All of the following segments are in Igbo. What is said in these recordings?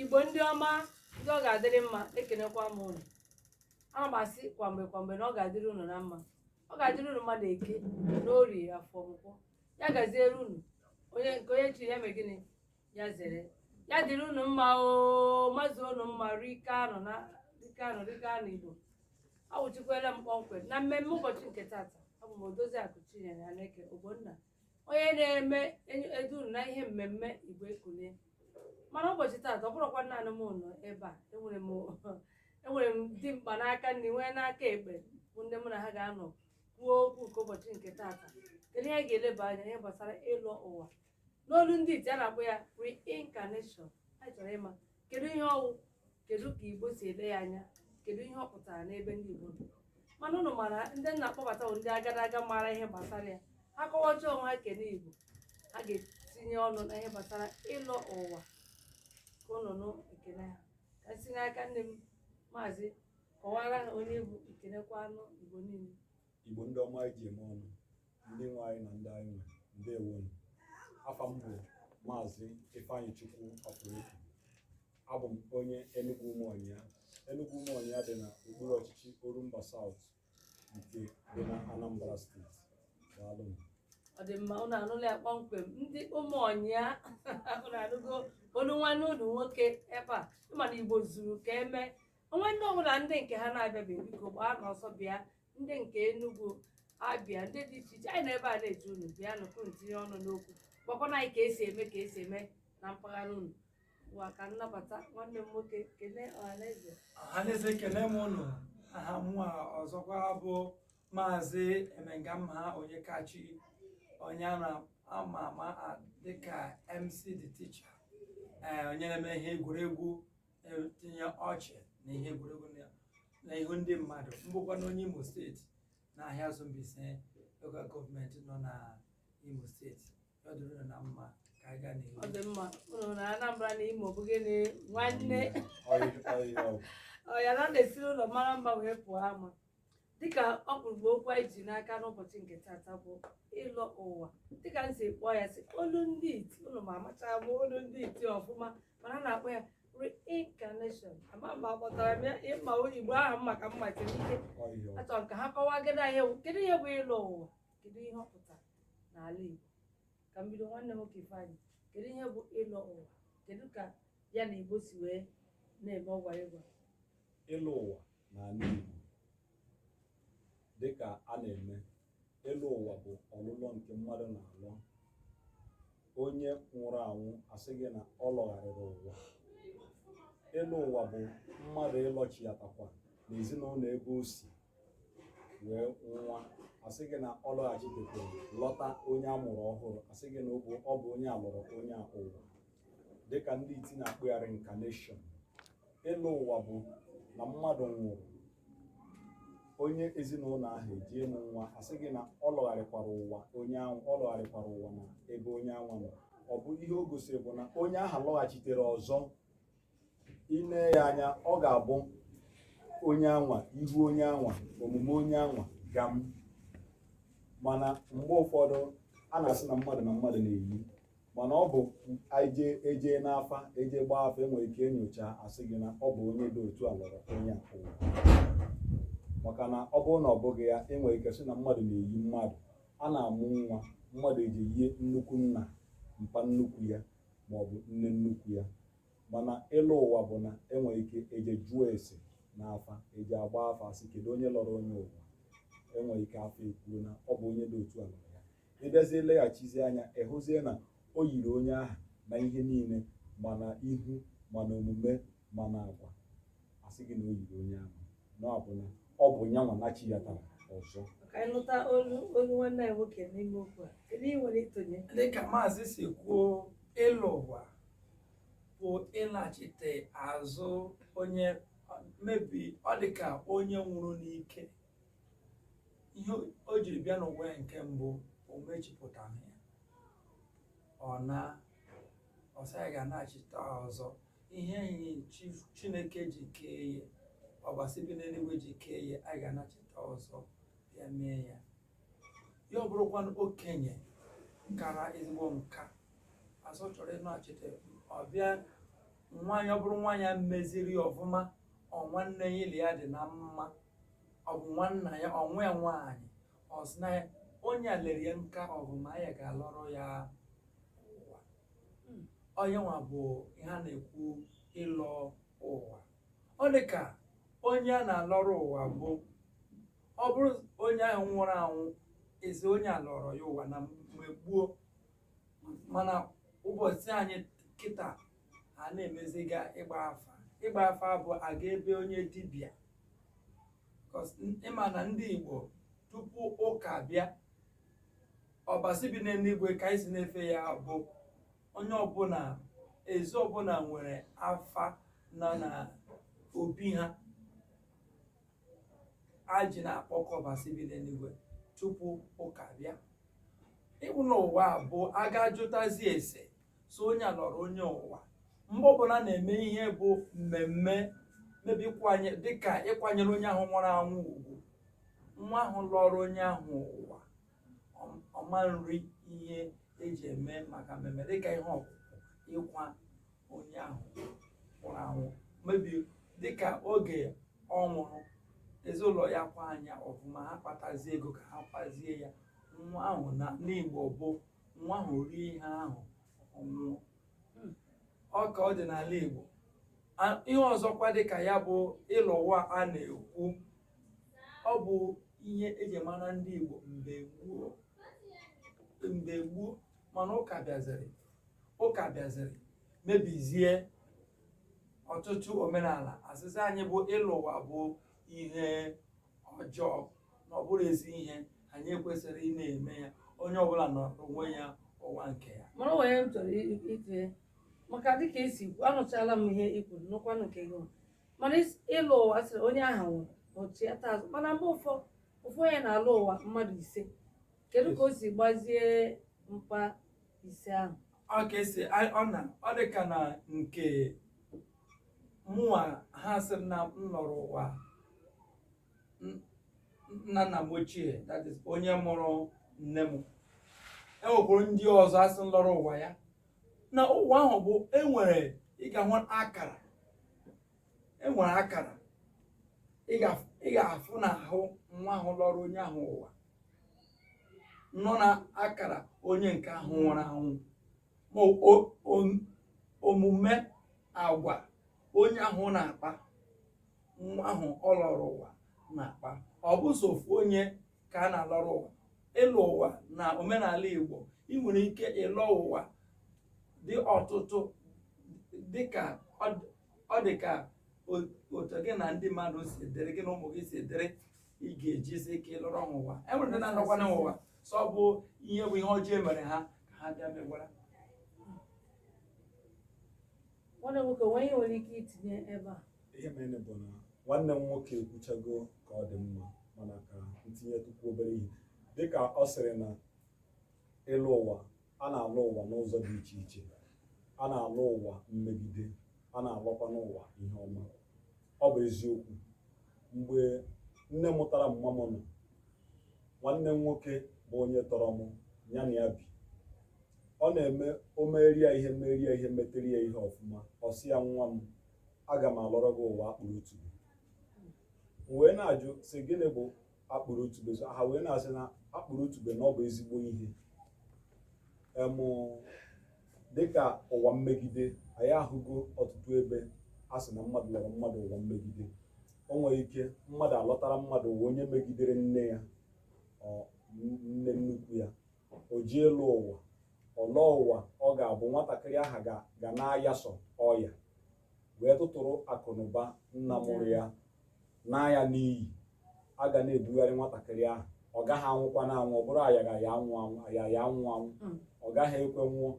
igbo ndị ọma ndị ọ ga-adịrị mma ekenekwa m ụnụ ana m asị kwa mgbe kwa mgbe na ọ ga-adịrị ụnụ na mma ọ ga-adịrị ụnụ mma na eke na orie afọ nkwọ ya gaziere ụnụ onye nke onye chiri ya mee gịnị ya zere ya dịrị ụnụ mma o mazuo ụnụ mma rike anụ na rike anụ rike anụ igbo awụchikwela m kpọmkwem na mmemme ụbọchị nke tata abụ m odoziakụ chinyere aneke ogbonna onye na-eme edu ụnụ na ihe mmemme igbo ekunie mana ụbọchị taata ọ bụrọkwa naanị m nọ ebe a enwere m dimkpa n'aka nri nwee n'aka ekpe bụ ndị mụ na ha ga-anọ kwuo okwu nke ụbọchị nke taata kedu ihe anyị ga-eleba anya ihe gbasara ịlọ ụwa n'olu ndị iti a na-akpọ ya reincarnation anyị chọrọ ịma kedu ihe ọ wụ kedu ka igbo si ele ya anya kedu ihe ọ pụtara n'ebe ndị igbo nọ mana ụnụ mara ndị m na-akpọbata bụ ndị agadaga mara ihe gbasara ya ha kọwacha onwe ha kene igbo ha ga-etinye ọnụ na ihe gbasara ịlọ ụwa ka ụnụ nụ ekene ha ka m si n'aka nri m maazị kọwara ha onye ị bụ kenekwanụ igbo niile Igbo ndị ọma anyị ji eme ọnụ ndị nwe anyị na ndị anyị nwe ndewonu afa m bụ maazị Ifeanyichukwu Ọpụrụifu abụ m onye Enugwu Umuonyia Enugwu Umuonyia dị na okpuru ọchịchị Orumba South nke dị na Anambra steeti daalụ m ọ dị mma ụnụ anụla ya kpọmkwem ndị Umuonyia ụnụ anụgo olu nwanne ụnụ nwoke ebe a ị ma na igbo zuru ka eme o nwee ndị ọbụla ndị nke ha na-abịabeghị biko gbaanụ ọsọ bịa ndị nke Enugu abịa ndị dị iche iche anyị nọ ebe a na-eche unu bịanụ ka unu tinye ọnụ n'okwu gwakwanụ anyị ka esi eme ka esi eme na mpaghara unu ngwa ka m nabata nwanne m nwoke kelee ọhaneze ọhaneze ekele m ụnụ aha mụwa ọzọkwa bụ maazị emengaha onyekachi onye a na-ama ama dịka mc the teacher ee onye na-eme ihe egwuregwu etinye ọchị na ihe egwuregwu na- na ihu ndị mmadụ m bụkwanụ onye imo steeti na Ahiazu Mbaise lokal gọọmenti nọ na imo steeti ya dịrị unu na mma ka anyị gaa n'ihu ọ dị mma unu na anambra na imo bụ gịnị nwanne ọ ya na a na-esiri ụlọ mara mma wee pụọ ama dịka ọkpụrụkpụ okwu anyị ji n'aka n'ụbọchị nke tata bụ ịlọ ụwa dịka m si kpọọ ya si olu ndị iti ụnụ ma amachaa bụ olu ndị iti ọfụma mana a na-akpọ ya reincarnation ama m ma akpọtara m ya ị ma igbo ahụ m maka mma siri ike achọrọ m ka ha kọwaa gịnị ihe bụ kedu ihe bụ ịlọ ụwa kedu ihe ọ pụtara n'ala igbo ka m bido nwanne m nwoke ifeanyị kedu ihe bụ ịlọ ụwa kedu ka ya na igbo si wee na-eme ọgwa ịgwa ịlọ ụwa n'ala Igbo dịka a na-eme ịlọ ụwa bụ ọlụlọ nke mmadụ na-alọ onye nwụrụ anwụ asị gị na ọ lọgharịrị ụwa ịlọ ụwa bụ mmadụ ịlọchiatakwa na ezinụlọ ebe o si wee nwa asị gị na ọ lọghachitekwa lọta onye a mụrụ ọhụrụ asị gị na ọ bụ onye a lọrọ onye a ụwa dịka ndị iti na-akpọ ya reincarnation ịlọ ụwa bụ na mmadụ nwụrụ onye ezinụlọ ahụ eje mụọ nwa asị gị na ọ lọgharịkwara ụwa onye ahụ ọ lọgharịkwara ụwa na ebe onye anwa nọ ọ bụ ihe o gosiri bụ na onye ahụ lọghachitere ọzọ i nee ya anya ọ ga-abụ onye anwa ihu onye anwa omume onye anwa gam mana mgbe ụfọdụ a na-asị na mmadụ na mmadụ na-eyi mana ọ bụ eje eje n'afa eje gbaa afa enwere ike enyocha asị gị na ọ bụ onye dị otu a lọrọ onye a ụwa maka na ọ bụrụ na ọ bụghị ya enwere ike sị na mmadụ na-eyi mmadụ a na-amụ nwa mmadụ eje yie nnukwu nna mpa nnukwu ya ma ọ bụ nne nnukwu ya mana ịlọ ụwa bụ na enwere ike eje jụọ ese n'afa eje gbaa afa asị kedu onye lọrọ onye ụwa enwere ike afa ekwuo na ọ bụ onye dị otu a lọrọ ya ị bịazie leghachizie anya ịhụzie na o yiri onye ahụ na ihe niile ma na ihu ma na omume ma na agwa asị gị na o yiri onye ahụ na ọ bụ na ọ bụ ya nwa nachiyatara ọzọ ka anyị nụta olu olu nwanne anyị nwoke n'ime okwu a kedu ihe i nwere ịtụnye dịka maazị si kwuo ịlọ ụwa bụ ịlachite azụ onye maybe ọ dịka onye nwụrụ n'ike ihe o jiri bịa n'ụwa ya nke mbụ o mechipụtaghị ya ọ naa ọ sị ya ga-anachita ọzọ ihe enyi chi- chineke ji kee ya ọbasi bi n'eluigwe ji kee ya a ga-anachita ọzọ bịa mee ya ya ọ bụrụkwanụ okenye kara ezigbo nka a sị ọ chọrọ ịnachite ọ bịa nwa ya ọ bụrụ nwa ya meziri ya ọfụma ọ nwanne ya ya na ya dị na mma ọ bụ nwanna ya ọ nwa ya nwaanyị ọ sị na onye a lere ya nka ọfụma ya ga-alọrọ ya ụwa ọ nyanwa bụ ihe a na-ekwu ịlọ ụwa ọ dị ka onye a na-alọrọ ụwa bụ ọ bụrụ onye ahụ nwụrụ anwụ asị onye a lọrọ ya ụwa na mgbe gboo mana ụbọchị anyị kịta a na-emeziga ịgba afa ịgba afa bụ aga ebe onye dibịa ịma na ndị Igbo tupu ụka bịa ọbasi bi n'eluigwe ka anyị si na-efe ya bụ onye ọbụla ezi ọbụla nwere afa na na obi ha eji na-akpọku ọbasi bi n'eluigwe tupu ụka bịa ịbụ n'ụwa bụ aga jụtazi ese so onye a lọrọ onye ụwa mgbe ọbụla na-eme ihe bụ mmemme maybe ịkwanye dịka ịkwanyere onye ahụ nwụrụ anwụ ugwu nwa ahụ lọrọ onye ahụ ụwa ọ- ọ ma na-eri ihe eji eme maka mmemme dịka ihe ọkwụkwa ịkwa onye ahụ nwụrụ anwụ maybe dịka oge ọ nwụrụ ezinụlọ ya akwarọ ya ọfụma ha kpatazie ego ka ha kwazie ya nwa ahụ na n'Igbo bụ nwa ahụ rie ihe ahụ ọ nwụọ hmm. ọ ka ọ dị n'ala Igbo ihe ọzọkwa dị ka ya bụ ịlọ ụwa a na-ekwu ọ bụ ihe eji mara ndị Igbo mgbe gboo mgbe gboo mana ụka bịaziri ụka bịaziri mebizie ọtụtụ omenala asịzị anyị bụ ịlọ ụwa bụ ihe ọjọọ na ọ bụrọ ezi ihe anyị ekwesịrị ị na-eme ya onye ọbụla nọ onwe ya ụwa nke ya mana o nwe ihe m chọrọ itinye maka dịka i si kwu anụchala m ihe i kwuru nụkwanụ nke gị mana is- ịlọ ụwa sịrị onye ahụ nwụrụ ọ chighata azụ mana mgbe ụfọdụ ofu onye na-alọ ụwa mmadụ ise kedu ka o si gbazie mkpa ise ahụ ọ ka esi ọ na ọ dị ka na nke mụnwa ha sị m na m lọrọ ụwa n- nna nna m ochie that is onye mụrụ nne m enwekwara ndị ọzọ asị na lọrọ ụwa ya na ụwa ahụ bụ enwere ị ga-ahụ akara enwere akara ị ga- ị ga-afụ n'ahụ nwa ahụ lọrọ onye ahụ ụwa nọ na akara onye nke ahụ nwụrụ anwụ ma omume agwa onye ahụ na-akpa nwa ahụ ọ lọrọ ụwa na-akpa ọ bụ sọ ofu onye ka a na-alọrọ ụwa ịlọ ụwa na omenala Igbo ị nwere ike ịlọ ụwa dị ọtụtụ dịka ọ dị ka otu gị na ndị mmadụ si dịrị gị na ụmụ gị si dịrị ị ga-ejizi ike ịlọrọ ha ụwa e nwere ndị na-anọkwanụ ụwa sọ bụ ihe bụ ihe ọjọọ e mere ha ka ha bịa megwara nwanne m nwoke o nwe ihe i nwere ike itinye ebe a ihe mere bụ na nwanne m nwoke ekwuchago ka ọ dị mma mana ka ntinyetukwu obere ihe dịka ọ sịrị na ịlọ ụwa a na-alọ ụwa n'ụzọ dị iche iche a na-alọ ụwa mmegide a na-alọkwa n'ụwa ihe ọma ọ bụ eziokwu mgbe nne mụtara mma m nọ nwanne m nwoke bụ onye tọrọ m ya na ya bi ọ na-eme o merie ya ihe merie ya ihe metere ya ihe ọfụma ọ sị ya nwa m aga m alọrọ gị ụwa akpụrụ otube m wee na-ajụ sị gịnị bụ akpụrụ otube so ha wee na-asị na akpụrụ otube na ọ bụ ezigbo ihe em dịka ụwa mmegide anyị ahụgo ọtụtụ ebe a sị na mmadụ lọrọ mmadụ ụwa mmegide o nwere ike mmadụ alọtara mmadụ ụwa onye megidere nne ya nne nnukwu ya o ji alọ ụwa ọ lọ ụwa ọ ga-abụ nwatakịrị ahụ ga na-aya sọ ọya wee tụtụrụ akụnụba nna mụrụ ya naa ya n'iyi, a ga na-ebugharị nwatakịrị ahụ ọ gaghị anwụkwanụ anwụ ọ bụrụ aya aya anwụ anwụ ọ gaghị ekwe nwụọ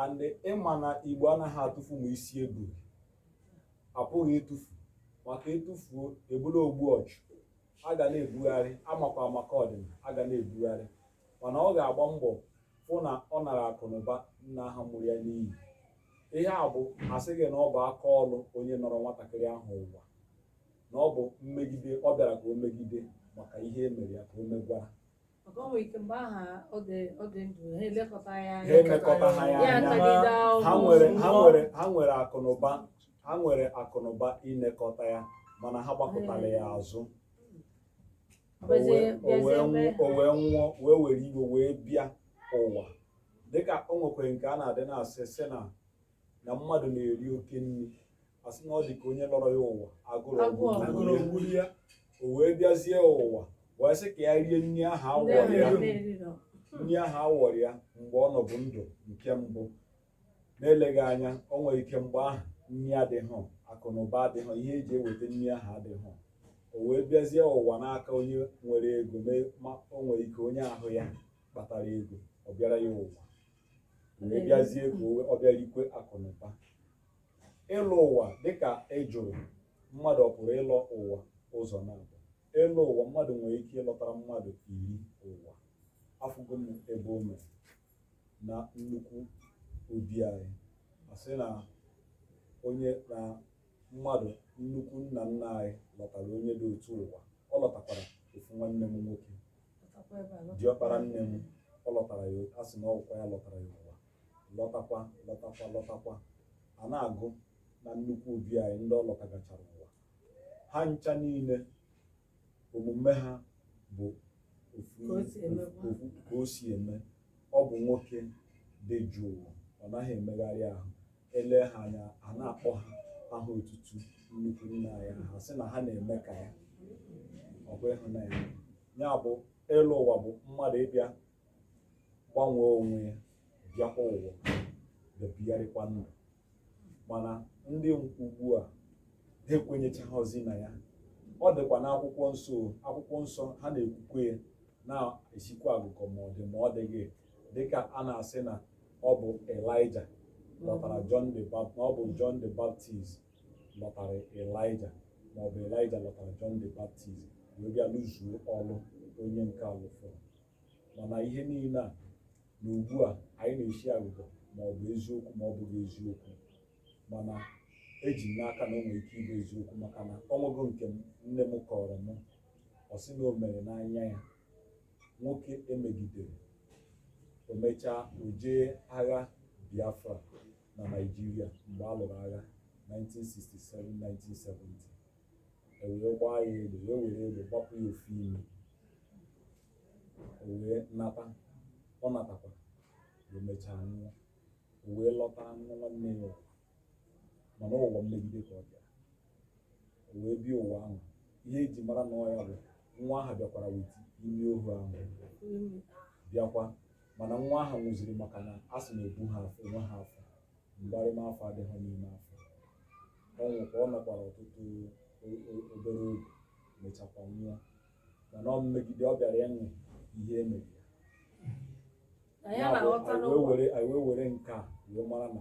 and ị ma na igbo anaghị atụfu ma isi eburu apụghị ịtụfu maka ị tụfuo ị bụrụ ogbu ọchụ a ga na-ebugharị amakwa maka ọdịna a ga na-ebugharị mana ọ ga-agba mbọ fụ na ọ nara akụnụba nna ahụ mụrụ ya n'iyi ihe a bụ a sị gị na ọ bụ aka ọlụ onye nọrọ nwatakịrị ahụ ụwa na ọ bụ mmegide ọ bịara ka o megide maka ihe e mere ya ka o megwara maka o nwere ike mgbe ahụ ọ dị ọ dị ndụ ha elekọta ya ha emekọta ha ya ya anya atagide ha ahụhụ ha nwere akụnụba inekọta ya mana ha gbakụtara ya azụ o wee nwụọ wee were iwe wee bịa ụwa dịka o nwekwere nke a na-adị na-asị sị na na mmadụ na-eri oke nri a sị na ọ dị ka onye lọrọ ya ụwa agụrụ gburu ya o wee bịazie ụwa wee sị ka ya rie nri ahụ a wọrọ ya mgbe ọ nọbu ndụ nke mbụ na eleghị anya o nwere ike mgbe ahụ nri adịghị akụ na ụba adịghị ihe e ji eweta nri ahụ adịghị o wee bịazie ụwa n'aka onye nwere ego ma o nwere ike onye ahụ ya kpatara ego ọ bịara ya ụwa wee bịazie ka ọ bịara ikwe akụ na ụba ịlọ ụwa dịka ị jụrụ mmadụ ọ pụrụ ịlọ ụwa ụzọ naabọ ịlọ ụwa mmadụ nwere ike ịlọtara mmadụ iri ụwa afụgo m ebe o mere na nnukwu obi anyị a sị na onye na mmadụ nnukwu nna nna anyị lọtara onye dị otu a ụwa ọ lọtakwara ofu nwanne m nwoke diọkpara nne m ọ lọtara ya a sị na ọ wụkwa ya lọtara ya ụwa lọtakwa lọtakwa lọtakwa a na-agụ na nnukwu obi anyị ndị ọ lọtagachara ụwa ha ncha niile omume ha bụ ka o si eme ọ bụ nwoke dị jụụ ọ naghị emegharị ahụ ele ha anya a na-akpọ ha aha otutu nnukwu nna anyị ha sị na ha na-eme ka ya ọ bụ ịhụnanya ya bụ ịlọ ụwa bụ mmadụ ịbịa gbanwee onwe ya bịakwa ụwa bịa bigharịkwa ndụ mana ndị ugbu a ha ekwenyechaghịzi na ya ọ dịkwa n'akwụkwọ nsọ akwụkwọ nsọ ha na-ekwukwa ya na-esikwa agụgọ ma ọ dị ma ọ dịghị dịka a na-asị na ọ bụ Elijah lọtara ọ bụ John the Baptist lọtara Elijah ma ọ bụ Elijah lọtara John the Baptist wee bịa lụzuo ọlụ onye nke a lụfọrọ mana ihe niile a na ugbu a anyị na-esi agụgọ ma ọ bụ eziokwu ma ọ bụghị eziokwu mana eji m n'aka na o nwere ike ịbụ eziokwu maka na o nwego nke nne m kọrọ m ọ sị na o mere n'anya ya nwoke e megidere o mechaa o jee agha Biafra na Naịjirịa mgbe a lụrụ agha 1967-1970 e wee gbaa ya egbe wee were egbe gbapụ ya ofu imi o wee nata ọ natakwa o mechaa nwụọ o wee lọta nwa nwanne ya mana ụwa mmegide ka ọ bịara o wee bịa ụwa ahụ ihe eji mara na ọ ya bụ nwa ahụ bịakwara with imi ohu ahụ bịakwa mana nwa ahụ nwụziri maka na a sị na ebuha afọ enweha afọ mgbarịma afọ adịghị n'ime afọ ọ nwụkwa ọ nọkwara ọtụtụ obere oge mechakwa nwụọ mana ọ mmegide ọ bịara ụwa ihe emegide anyị wee were nke a wee mara na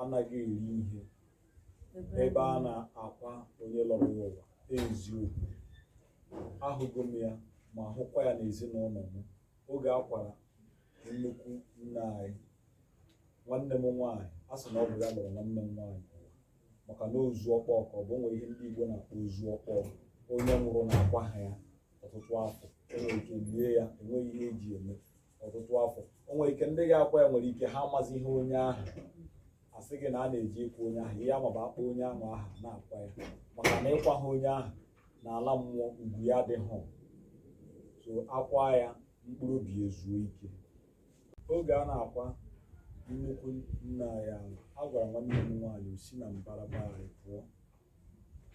anaghị eri ihe ebe a na-akwa onye lọrọ ya ụwa eziokwu ahụgo m ya ma hụkwa ya n'ezinụlọ m oge a kwara nnukwu nna anyị nwanne m nwaanyị a sị na ọ bụ ya lọrọ nwanne m nwaanyị ụwa maka na ozu ọkpọọ ka ọ bụ nwere ihe ndị Igbo na-akpọ ozu ọkpọọ onye nwụrụ na akwaha ya ọtụtụ afọ e nwere ike lie ya enweghị ihe eji eme ọtụtụ afọ o nwere ike ndị ga-akwa ya nwere ike ha amaziha onye ahụ a sị gị na a na-eji ịkwa onye ahụ ihe amaba akpọ onye ahụ aha na-akwa ya maka na ị kwaha onye ahụ n'ala mmụọ ugwu ya adịghị so a kwaa ya mkpụrụ obi ezuo ike oge a na-akwa nnukwu nna anyị a gwara nwanne m nwaanyị o si na mbara ebe ahụ pụọ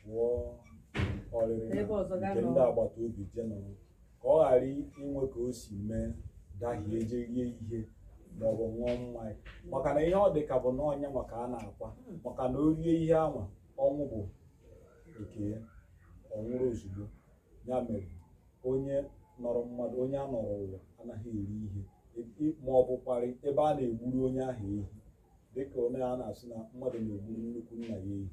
pụọ ọrịrị na nke ndị agbata obi je nọrọ ka ọ ghara inwe ka o si mee dahie je rie ihe maọbụ ṅụọ mmanya maka na ihe ọ dị ka bụ na onye nwa ka a na-akwa maka na o rie ihe anwa ọnwụ bụ nke ya ọ nwụrụ ozugbo ya mere onye nọrọ mmadụ onye a nọrọ ụwa anaghị eri ihe ma ọ bụkwarị ebe a na-egburu onye ahụ ehi dịka onye a na-asị na mmadụ na-egburu nnukwu nna ya ehi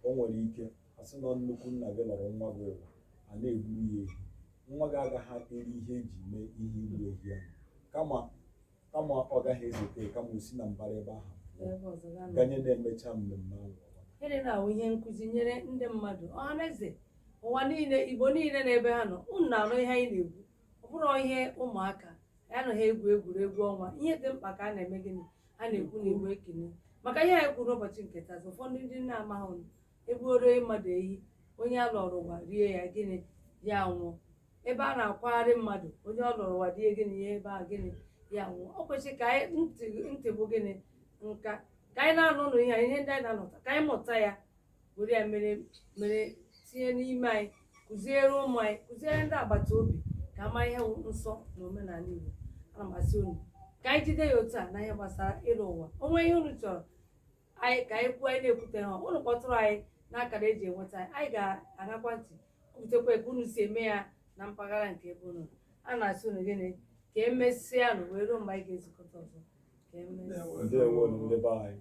o nwere ike asị na nnukwu nna gị lọrọ nwa gị ụwa a na-egburu ya ehi nwa gị agaghị eri ihe eji mee ihe igbu ehi ahụ kama ọ gaghị ezete kama o si na mbara ebe ahụ ganye na emechaa mmemme ahụ Gịnị na-awụ ihe nkụzi nyere ndị mmadụ ọhaneze ụwa niile Igbo niile n'ebe ha nọ unu na-anụ ihe anyị na-ekwu ọ bụrụ ihe ụmụaka ya anaghị egwu egwuregwu ọnwa ihe dị mkpa ka a na-eme gịnị a na-ekwu na Igbo ekene maka ihe anyị kwuru n'ụbọchị nke taa ụfọdụ ndị na-amaghị egbuoro mmadụ ehi onye a lọrọ ụwa rie ya gịnị ya nwụọ ebe a na-akwagharị mmadụ onye ọ lọrọ ụwa rie gịnị ya ebe a gịnị ya nwụọ ọ kwesịrị ka anyị ntị bụ gịnị nka ka anyị na-anụ ụlọ ihe ndị anyị na-anụta ka anyị mụta ya were ya mere tinye n'ime anyị kụziere ụmụ anyị kụziere ndị agbata obi ka ama ihe wụ nsọ na omenala Igbo ana m asị unu ka anyị jide ya otu a na ihe gbasara ịlọ ụwa o nwee ihe unu chọrọ anyị ka anyị kwuo anyị na-ekwuteha unu kpọtụrụ anyị n'akara eji enweta anyị anyị ga-egekwa ntị kwutekwa ka unu si eme ya na mpaghara nke ebe unu nọ. a na-asị unu gịnị ka emesịa nụ wee ruo mgbe anyị ga-ezukọta ọzọ ka emesịa Ndewo ndị be anyị.